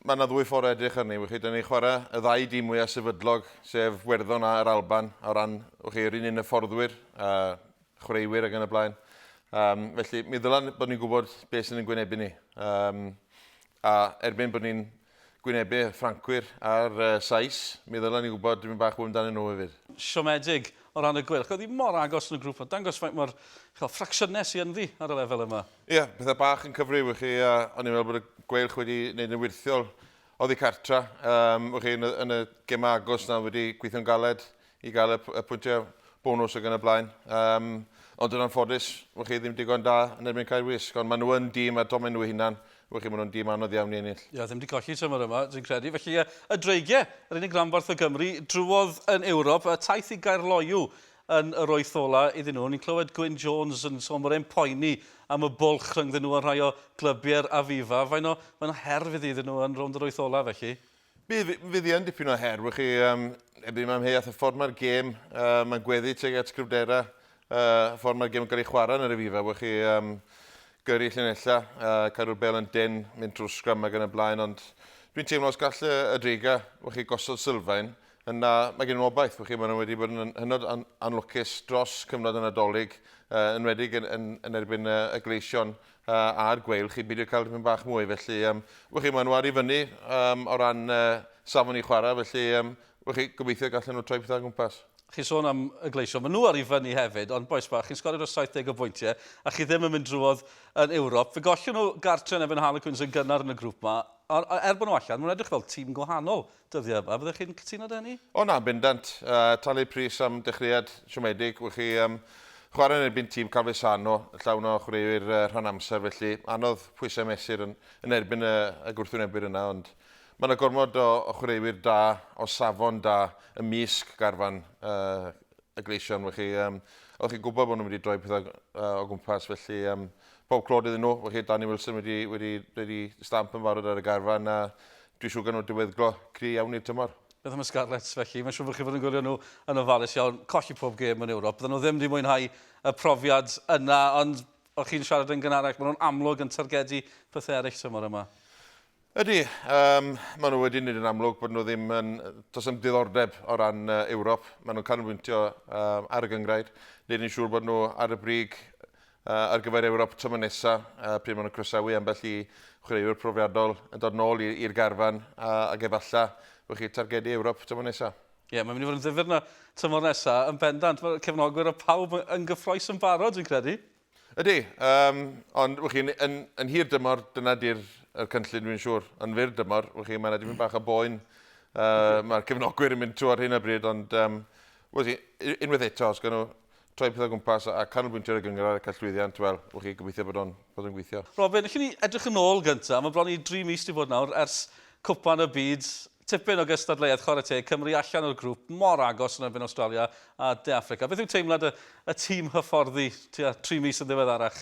Mae yna ddwy ffordd o edrych arni, wch chi, dan ni'n chwarae y ddau dîm mwyaf sefydlog, sef Werddon a'r Alban, o ran, wch chi, yr un un hyfforddwyr, a chwaraewyr ac yn y blaen. Um, felly, mi ddylan bod ni'n gwybod beth sy'n yn gwynebu ni. Um, a erbyn bod ni'n gwynebu Ffrancwyr a'r uh, Sais, mi ddylan ni'n gwybod dwi'n bach fwy amdanyn nhw hefyd. Siomedig. o ran y gweilch. Oedd hi mor agos yn y grŵp, a dangos faint mor ch'o, ffracsiynau sy ynddi ar y lefel yma. Ie, pethau bach yn cyfryw i chi, a o'n i'n meddwl bod y gweilch wedi wneud yn wyrthiol oddi cartra. Um, wch chi, yn y, yn y gemau agos na wedi gweithio'n galed i gael y, y pwyntiau bonus ag yn y blaen. Um, ond yn anffodus, wch chi, ddim digon da yn erbyn cael wisg, ond maen nhw yn dîm a domen nhw hunan, Ych chi, maen nhw'n dîm anodd iawn i ennill. Ie, ddim wedi colli tymor yma, dwi'n credu. Felly, y, y dreigiau, yr unig ranbarth o Gymru, drwodd yn Ewrop, a taith i Gaerloyw yn yr wyth ola iddyn nhw. Ni'n clywed Gwyn Jones yn sôn bod e'n poeni am y bwlch rhyngddyn nhw a rhai o glybiau'r Aviva. Faint o, faint o her fydd iddyn nhw yn rownd yr wyth ola, felly? Bydd, fydd yn dipyn o her. Wych chi, um, erbyn mae amheuaeth y ffordd mae'r gêm, uh, mae'n gweddi teg at gryfderau, uh, y ffordd mae'r gêm yn cael ei chwarae yn yr efifa. Wych chi, um, gyrru llinellau, uh, cadw'r bel yn den, mynd trwy'r sgram ac yn y blaen, ond dwi'n teimlo os gall y Driga, wych chi, gosod sylfaen, yna mae gen i'n obaith, wych chi, maen nhw wedi bod yn hynod an anlwcus dros cyfnod y Nadolig, uh, enwedig yn, yn, yn erbyn uh, y gleision, uh, a'r gweil chi, beidio cael rhywun bach mwy, felly, um, wych chi, maen nhw ar i fyny um, o ran uh, safon i chwarae, felly, um, wych chi, gobeithio gallen nhw troi pethau gwmpas. Chi'n sôn am y gleisio, maen nhw ar i fyny hefyd, ond boes bach, chi'n sgorio dros 70 o bwyntiau, a chi ddim yn mynd drwodd yn Ewrop. Fe gollio nhw gartre yn efo'n Harlequins yn gynnar yn y grŵp yma, ond er bod nhw allan, maen nhw'n edrych fel tîm gwahanol Dyddiau, a fyddech chi'n cytuno 'da hynny? O na, bendant. Talu pris am dechreuad siomedig. Wych chi um, chwarae yn erbyn tîm Calvisano, llawn o chwaraewyr uh, rhan amser, felly anodd pwysau mesur yn, yn erbyn y, y gwrthwynebwyr yna, ond mae yna gormod o, o chwaraewyr da, o safon da, y misg garfan uh, y gleision, wych chi. Um, Oeddech chi'n gwybod bod nhw'n mynd i droi pethau uh, o gwmpas, felly um, pob clod iddyn nhw. Wych chi, Danny Wilson wedi, wedi, wedi stamp yn farod ar y garfan, a Dwi siŵr gan nhw diweddglo cry iawn i'r tymor. Beth am y Scarlets felly? Mae'n siŵr bod chi fod yn gwylio nhw yn ofalus iawn, colli pob gêm yn Ewrop. Bydden nhw ddim wedi mwynhau y profiad yna, ond o chi'n siarad yn gynharach, maen nhw'n amlwg yn targedu pethau eraill tymor yma. Ydy, um, maen nhw wedi wneud yn amlwg bod nhw ddim yn... Does am diddordeb o ran uh, Ewrop. Maen nhw'n canolbwyntio um, ar y gyngrair. Nid yn siŵr bod nhw ar y brig ar gyfer Ewrop tymor nesaf, pryd maen nhw'n croesawu ambell i chwaraewyr profiadol yn dod nôl i'r garfan, ac efallai bod chi'n targedu Ewrop tymor nesaf. Ie, mae'n mynd i fod yn ddifyr yna tymor nesaf, yn bendant. Mae'r cefnogwyr a phawb yn gyffrous yn barod, dwi'n credu. Ydy, ond wch chi, yn hir dymor, dyna di'r cynllun dwi'n siŵr. Yn fyr dymor, wch chi, mae yna dipyn bach o boen. Mae'r cefnogwyr yn mynd trwy ar hyn o bryd, ond wch chi, unwaith eto, os gawn nhw troi pethau gwmpas a canolbwyntio ar y gynghrair ac ar llwyddiant, wel, wch chi, gobeithio bod o'n bod o'n gweithio. Robin, allwn ni edrych yn ôl gyntaf, mae bron i dri mis wedi bod nawr ers Cwpan y Byd, tipyn o gystadleuaeth chwarae teg, Cymru allan o'r grŵp, mor agos yn erbyn Awstralia a De Affrica. Beth yw teimlad y, y tîm hyfforddi tua tri mis yn ddiweddarach?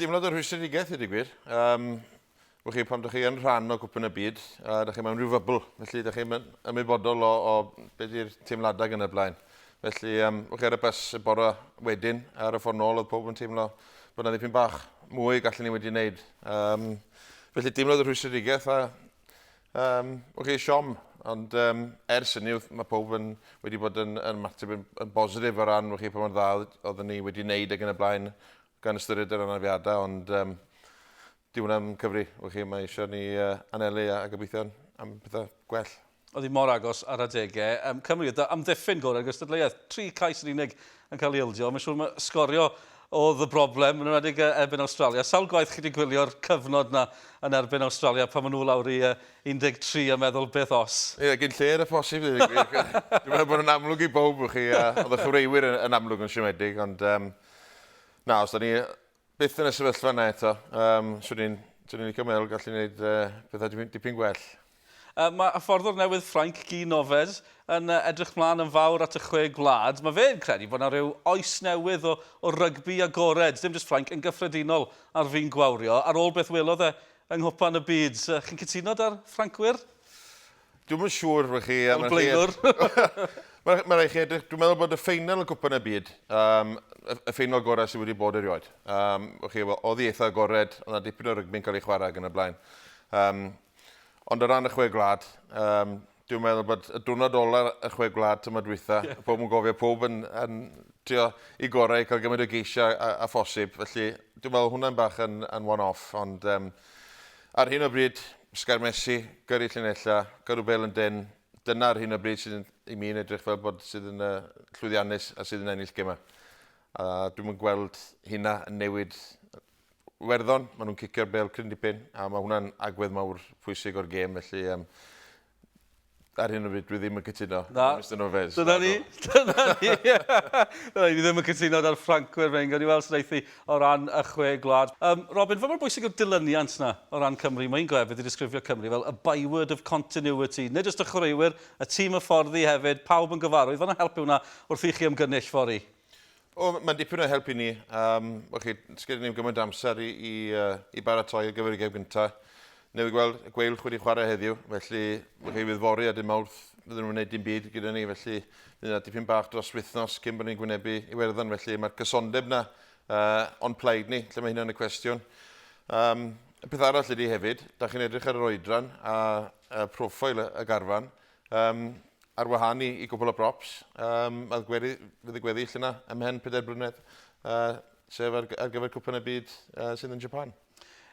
Teimlad o rhwystredigaeth i ddweud gwir. Um, Wch chi, pan ydych chi yn rhan o gwpyn y byd, a ydych chi mewn rhyw fybl, felly ydych chi'n ymwybodol o, o beth yw'r teimladau gan y blaen. Felly, um, wch chi ar y bus y bore wedyn, ar y ffordd nôl, oedd pob yn teimlo bod yna ddipyn bach mwy gallwn ni wedi wneud. Um, felly, deimlodd y rhwystredigaeth a um, wch chi, siom Ond um, ers hynny, mae pob yn wedi bod yn, yn mateb yn, yn bositif o ran chi pa mor dda oedden ni wedi wneud ac yn y blaen. gan ystyried yr anafiadau, ond um, di hwnna'n cyfri, wch chi, mae eisiau ni uh, anelu a, a gobeithio am pethau gwell. Oedd hi mor agos ar adegau. Um, Cymru, ydy amddiffyn gorau ar gystadleuaeth. Tri cais yn unig yn cael ei ildio. Mae'n siŵr mae sgorio oedd y broblem yn ymwedig erbyn Australia. Sawl gwaith chi wedi gwylio'r cyfnod na yn erbyn Australia pan maen nhw lawr i 13 a meddwl beth os? Ie, yeah, gyn lle'r y posib. Dwi'n meddwl bod yn amlwg i bob chi, a oedd y chyfreiwyr yn, yn amlwg yn siomedig, ond um, Na, os da ni byth yn y sefyllfa yna eto, um, swn i'n swn i'n licio meddwl gallu gwneud uh, pethau dipyn, dipyn gwell. Uh, mae hyfforddwr newydd Ffrainc, Guy Noves, yn uh, edrych mlaen yn fawr at y chwe gwlad. Mae fe'n credu bod yna rhyw oes newydd o, o rygbi agored, dim jyst Ffrainc, yn gyffredinol ar fin gwawrio, ar ôl beth welodd e yng Nghwpan y Byd. Uh, chi'n cytuno da'r Ffrancwyr? Dwi'm yn siŵr wych chi. Fel blaenwr. Mae'n rhaid chi edrych, dwi'n meddwl bod y ffeinal y gwpan y byd, um, y ffeinal gorau sydd wedi bod erioed. Um, chi, oedd i eitha agored, ond na dipyn o rygbi'n cael ei chwarae ag yn y blaen. Um, ond o ran y chwe gwlad, um, dwi'n meddwl bod y diwrnod ola y chwe gwlad tymor dwytha, yeah. pob yn gofio pob yn, yn trio i gorau, cael gymaint o geisiau a, a phosib. Felly, dwi'n meddwl hwnna'n bach yn, yn one-off, ond um, Ar hyn o bryd, sgarmesi, gyrru llinellau, gyrru bel yn dân, dyna ar hyn o bryd sydd i mi yn edrych fel bod sydd yn llwyddiannus a sydd yn ennill gemau. A dwi'm yn gweld hynna yn newid Werddon, maen nhw'n cicio'r bel cryn dipyn a mae hwnna'n agwedd mawr pwysig o'r gêm felly um, Ar hyn o bryd, dwi ddim yn cytuno. Na. Mr Novez. Dyna ni. Dyna ni. Dyna ni. Fi ddim yn cytuno da'r Ffrancwyr fe'n gawn ni weld sy'n eithi o ran y chwe gwlad. Um, Robin, fe mor bwysig yw'r dilyniant na o ran Cymru? Mae'n glefyd i disgrifio Cymru fel a byword of continuity. Nid just y chwaraewyr, y tîm y fforddi hefyd, pawb yn gyfarwydd. Fan helpu hwnna wrth i chi ymgynnull fori. O, mae'n dipyn o help i ni. Um, chi, sgydyn ni'n gymaint amser i, i, uh, i baratoi ar gyfer y gem gyntaf. Newid gweld y gweil chwyd i chwarae heddiw, felly mae chi fydd fori a dim mawrth fydden nhw'n gwneud dim byd gyda ni, felly bydd yna dipyn bach dros wythnos cyn bod ni'n gwynebu i werddon, felly mae'r cysondeb yna uh, o'n plaid ni, lle mae hynna'n y cwestiwn. Um, y peth arall ydy hefyd, da chi'n edrych ar yr oedran a, a profil y garfan, Um, ar wahân i, i gwbl o brops, um, oedd gweddi, fydd y gweddill yna ymhen pedair brynedd, uh, sef ar, ar gyfer cwpan y byd uh, sydd yn Japan.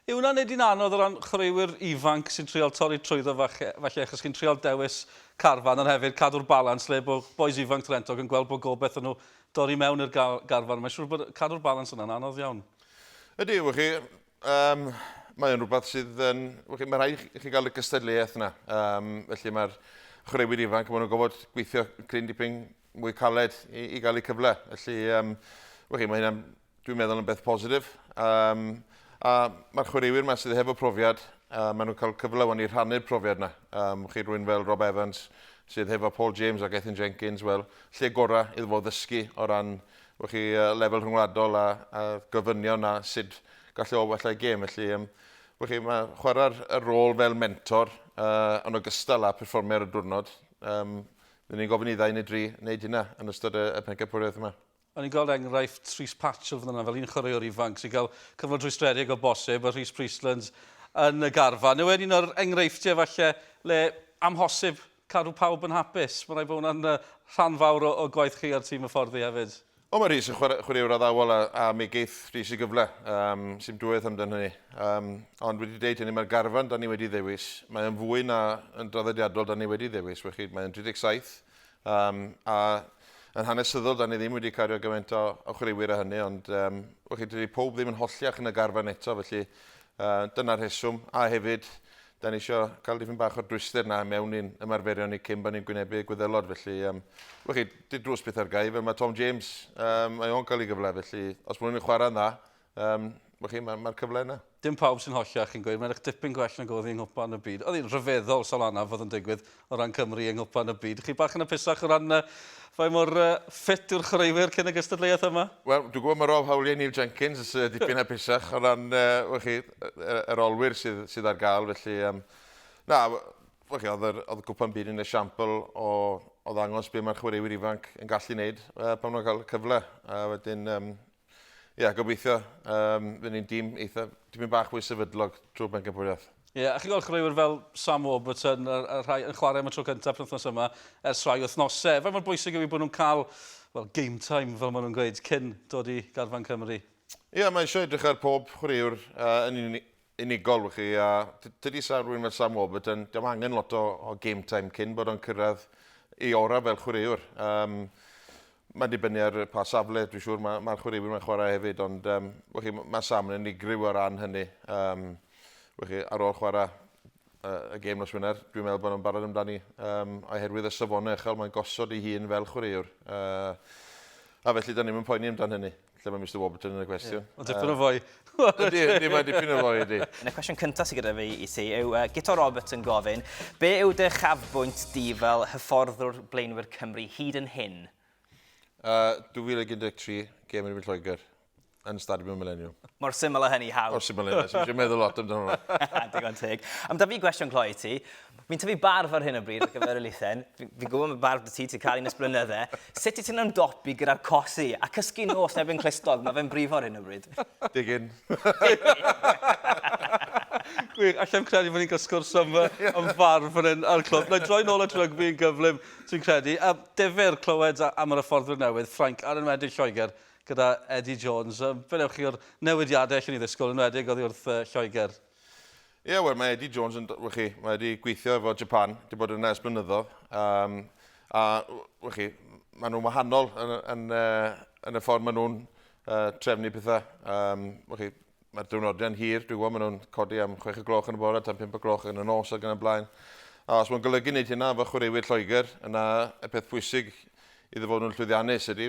Yw hwnna'n neud i'n anodd o ran chwaraewyr ifanc sy'n trial torri trwyddo falle, falle achos chi'n trial dewis carfan ond hefyd cadw'r balans lle bod boes ifanc Trentog yn gweld bod gobeith yn nhw dorri mewn i'r garfan. Mae'n siŵr bod cadw'r balans yna'n anodd iawn. Ydy, wych chi, Um, mae o'n rhywbeth sydd yn... Mae rhai i chi gael y gystadleuaeth yna. Um, felly mae'r chwaraewyr ifanc, maen nhw'n gofod gweithio cryn dipyn mwy caled i, i gael eu cyfle. Felly, um, mae hynna, dwi'n meddwl, yn beth positif. Um, a mae'r chwaraewyr yma sydd hefo profiad, uh, maen nhw'n cael cyfle o'n i rhannu'r profiad yna. Um, chi rwy'n fel Rob Evans, sydd hefo Paul James ac Ethan Jenkins, wel, lle gorau iddo fo ddysgu o ran Wel chi lefel rhyngwladol a a gofynion a sud gallu o wella'i gêm felly yym wel chi ma' chwarae'r y rôl fel mentor yy yn ogystal â perfformio ar y diwrnod yym ry'n ni'n gofyn i ddau neu dri wneud hynna yn ystod y y pencampwriaeth yma. O'n ni'n gweld enghraifft Rhys Patchell fan yna fel un chwaraewr ifanc sy'n cael cyfnod rhwystredig o bosib a Rhys Priestlands yn y garfan. Yw e'n un o'r enghreifftiau falle le amhosib cadw pawb yn hapus. Mae'n rhaid bod hwnna'n rhan fawr o, o gwaith chi a'r tîm hyfforddi hefyd. O, mae Rhys yn chwarae, chwaraewr addawol a, a mi geith Rhys y gyfle. Um, Sim dwywaith amdan hynny. Um, ond wedi deud hynny, mae'r garfan da ni wedi ddewis. Mae yn fwy na yn draddodiadol da ni wedi ddewis. Wechyd, mae'n 37. Um, a yn hanesyddol, da ni ddim wedi cario gymaint o, o chwaraewyr a hynny, ond um, wechyd, dydy pob ddim yn holliach yn y garfan eto, felly uh, dyna'r rheswm. A hefyd, Da ni isio cael dipyn bach o'r dwyster na mewn i'n ymarferion ni cyn bod ni'n gwynebu y gwyddelod. Felly, um, wech chi, di drws pethau'r gau, fel mae Tom James, um, mae o'n cael ei gyfle. Felly, os mwyn ni'n chwarae'n dda, um, wech chi, mae'r mae cyfle yna. Dim pawb sy'n hollach chi'n gweud, mae'n eich dipyn gwell nag oedd i'n nghwpan y byd. Oedd hi'n rhyfeddol, Solana, fod yn digwydd. o ran Cymru yng Nghwpan y Byd. Chi bach yn apusach o ran uh, faint mor uh, ffit yw'r chwaraewyr cyn y gystadleuaeth yma? Wel, dwi'n gwybod mae Rob Howley a Neil Jenkins yn uh, dipyn apusach o ran uh, chi, yr olwyr sydd, sydd ar gael, felly... Um, na, chi, oedd, yr, oedd Gwpan Byd yn esiampl o, o ddangos beth mae'r chwaraewyr ifanc yn gallu wneud uh, pan nhw'n cael cyfle. A wedyn, um, Ie, yeah, gobeithio. Um, Fy ni'n dîm eitha, dîm yn bach mwy sefydlog drwy bencampwriaeth. Ie, yeah, a chi'n gweld chreuwyr fel Sam Warburton, y, y rhai yn chwarae am y tro cyntaf penwthnos yma, ers rhai wythnosau. Fe mor bwysig yw i bod nhw'n cael well, game time, fel maen nhw'n gweud, cyn dod i garfan Cymru. Ie, yeah, mae eisiau edrych ar pob chwaraewr uh, yn, un, unigol wych chi a tydi sa rwy'n fel Sam Warburton, dyma angen lot o, o game time cyn bod o'n cyrraedd ei ora fel chwaraewr. Um, mae'n dibynnu ar pa safle, dwi'n siŵr, mae'r ma chwaraewyr mae'n chwarae hefyd, ond um, chi, mae Sam yn unigryw o ran hynny. Um, chi, ar ôl chwarae uh, y gêm nos Wener, dwi'n meddwl bod nhw'n barod amdani um, oherwydd y safonau uchel mae'n gosod ei hun fel chwaraewr. Uh, a felly, da ni'n poeni amdano hynny. Lle mae Mr Warburton yn y cwestiwn? Yeah. Ond dipyn o fwy. Ydy, ydy, mae dipyn o fwy, ydy. Yn y cwestiwn cyntaf sydd gyda fi i ti yw uh, Gito Roberts yn gofyn, be yw dy chafbwynt di fel hyfforddwr blaenwyr Cymru hyd yn hyn? Uh, 2013, gem yn mynd Lloegr, yn Stadiwm y Millennium. Mor syml o hynny, haw. Mor syml o hynny, sy'n meddwl lot amdano. Digon teg. Am da fi gwestiwn cloi ti, Fi'n tyfu barf ar hyn o bryd ar gyfer y luthen. Fi'n fi gwybod mae barf dy ti, ti'n cael un ysblynyddau. Sut i ti'n ymdopi gyda'r cosi a cysgu nos neb yn clustog? Mae fe'n brifo ar hyn o bryd. Digyn. Gwych, allai'm credu bod ni'n cael sgwrs am, am farf fan hyn ar y clwb. Na, droi nôl at rygbi yn gyflym, ti'n credu. A defyr clywed am yr hyfforddwyr newydd, Ffrainc, ar enwedig Lloegr, gyda Eddie Jones. Fe newch chi o'r newidiadau allan i ddisgwyl, enwedig oddi wrth uh, Lloegr? Ie, yeah, wel, mae Eddie Jones yn, wech chi, mae wedi gweithio efo Japan, wedi bod yna ers blynyddoedd. Um, a, wech chi, maen nhw'n wahanol yn, yn, uh, yn y ffordd maen nhw'n uh, trefnu pethau. Um, wech chi, mae'r diwrnodiau'n hir, dwi'n gwybod, maen nhw'n codi am 6 o gloch yn y bore, tan 5 o gloch yn y nos ac yn y blaen. A os mae'n golygu wneud hynna efo chwaraewyr Lloegr, yna y peth pwysig iddo fod nhw'n llwyddiannus ydy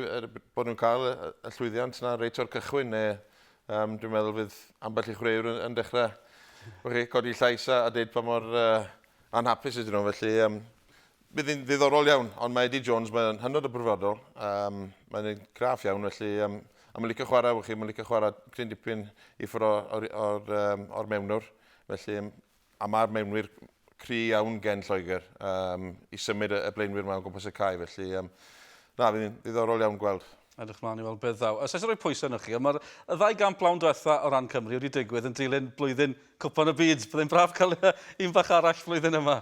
bod nhw'n cael y llwyddiant yna reit o'r cychwyn, neu Um, dwi'n meddwl fydd ambell i chwaraewr yn, yn dechrau chi, codi llais a, a deud pa mor uh, anhapus ydyn nhw. Felly, um, bydd hi'n ddiddorol iawn, ond mae Eddie Jones, mae'n hynod o brofodol. Um, mae'n ei graff iawn, felly um, a mae'n licio chwarae, chi, mae'n licio chwarae cryn dipyn i ffwrdd o'r, or, or, um, or mewnwr. Felly, A mae'r mewnwyr cry iawn gen Lloegr um, i symud y blaenwyr yma o gwmpas y cae, felly um, na, fi'n ddiddorol iawn gweld. Edrych mlaen i weld beth ddaw. Os eisiau rhoi pwysau yno chi, ond mae'r ddau gamp lawn diwetha o ran Cymru wedi digwydd yn dilyn blwyddyn Cwpan y Byd. Byddai'n braf cael un bach arall flwyddyn yma.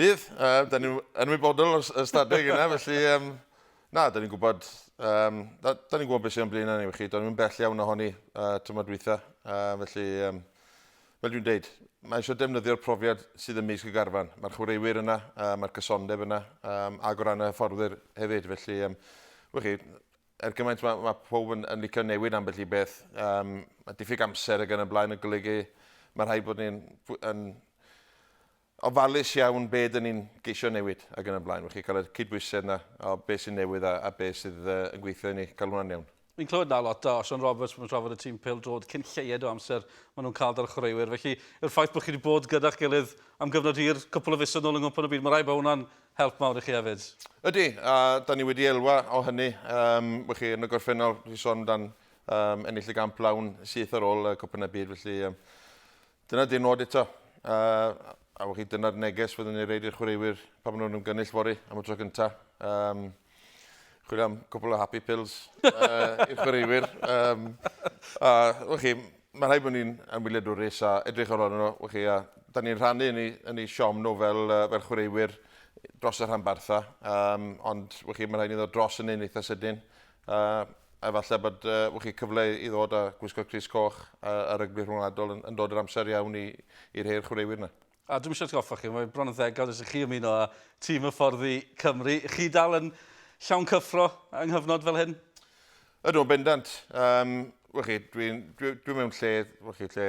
Bydd, uh, da ni'n ymwybodol o'r ystadeg yna, felly um, na, da ni'n gwybod, um, da, da ni'n gwybod beth sy'n o'n blaen ni, felly do'n i'n bell iawn ohoni uh, tymor dwytha, uh, felly um, fel dwi'n dweud, mae eisiau defnyddio'r profiad sydd ym mis y garfan. Mae'r chwaraewyr yna, uh, mae'r cysondeb yna, um, ac o ran y hyfforddwyr hefyd, felly, um, wych chi, er gymaint mae, mae pob yn, yn licio newid ambell i beth, um, mae diffyg amser ag yn y blaen yn golygu, mae rhaid bod ni'n yn ofalus iawn be ydyn ni'n geisio newid ac yn y blaen, felly cael y cydbwysedd yna o beth sy'n newydd a, a beth sydd uh, yn gweithio i ni cael hwnna'n iawn. Fi'n clywed na lot o Sean Roberts mae'n trafod y tîm pel drod cyn lleied o amser maen nhw'n cael dar chwaraewyr. Felly, yw'r ffaith bod chi wedi bod gyda'ch gilydd am gyfnod hir, cwpl o fisoedd nôl yng Nghwpan y Byd, mae rai bod hwnna'n help mawr i chi hefyd. Ydy, a da ni wedi elwa o hynny. Um, chi, yn y gorffennol, chi sôn amdan um, ennill y gamp lawn syth ar ôl y Cwpan y Byd, felly um, Dyna di'r nod eto. A, a wch chi, dyna'r neges fyddwn ni'n reid i'r chwaraewyr pan maen nhw'n ymgynnull fori am y tro cyntaf. Um, chwilio am cwpl o happy pills uh, i'r chwaraewyr. Um, a, wch chi, mae rhaid bod ni'n anwyliadwrus a edrych ar ôl nhw, wch chi, a da ni'n rhannu yn ei, yn ei siom nhw fel, uh, fel chwaraewyr dros y rhan bartha. Um, ond, wch chi, mae rhaid ni ddod dros yn ein eitha sydyn. A efallai bod uh, wch chi cyfle i ddod a gwisgo Cris Coch a, a rygbi rhwngwladol yn, yn dod yr amser iawn i, i rhei'r chwaraewyr yna. A dwi'n eisiau goffa chi, mae bron yn ddegawd ys chi ymuno â tîm y fforddi Cymru. Chi dal yn llawn cyffro yng nghyfnod fel hyn? Ydw, yn bendant. Um, wch chi, dwi'n dwi, dwi mewn lle, wch chi, lle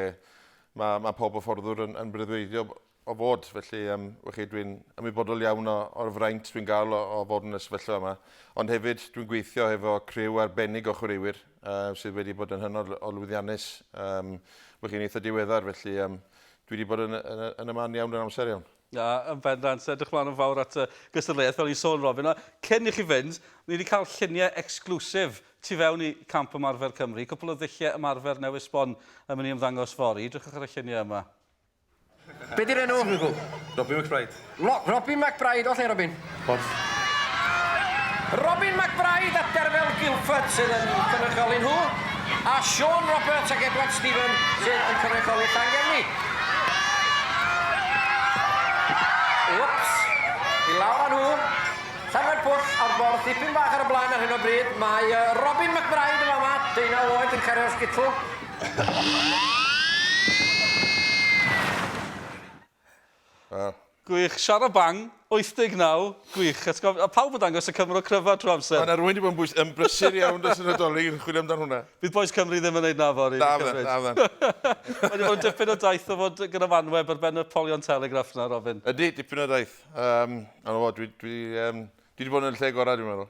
mae, mae pob y fforddwr yn, yn breuddwydio o fod. Felly, um, wech chi, dwi'n ymwybodol iawn o, o'r fraint dwi'n gael o, o fod yn y sefyllfa yma. Ond hefyd, dwi'n gweithio hefo criw arbennig o chwaraewyr uh, sydd wedi bod yn hynod o lwyddiannus. Um, wech chi'n eitha diweddar, felly um, dwi wedi bod yn, yn, yn y man iawn yn amser iawn. Na, yn bendant. Edrych mlaen yn fawr at y gystadleuaeth, fel i'n sôn, Robin. A cyn i chi fynd, ni wedi cael lluniau exclusif tu fewn i Camp Ymarfer Cymru. Cwpl o ddulliau ymarfer newydd sbon yn mynd i ymddangos fori. Drychwch ar y lluniau yma. Be di'r enw? Swy'n gwybod. Robin McBride. Lo- Robin McBride, o lle Robin? Porth. Robin McBride a Derfel Gilford sydd yn cynrychioli nhw, a Siôn Roberts ac Edward Stephen sydd yn cynrychioli Llangefni. Wps, i lawr â nhw. Llanfair Pwll a'r borth dipyn bach ar y blaen ar hyn o bryd. Mae Robin McBride yn fama, deunaw oed, yn cario'r sgitl. Gwych, Shara Bang, 89, gwych. Atgof- a pawb yn dangos y Cymro cryfa trwy amser. Mae yna rwy'n wedi bod yn bwys- yn brysur iawn dros y Nadolig yn chwilio amdan hwnna. Bydd bois Cymru ddim yn neud na fory. Na fe, na fe. Mae wedi bod yn dipyn o daith o fod gyda fanweb ar ben y polion telegraff na, Robin. Ydy, dipyn o daith. Um, ond o, dwi, dwi, um, dwi wedi bod yn y lle gorau, dwi'n meddwl.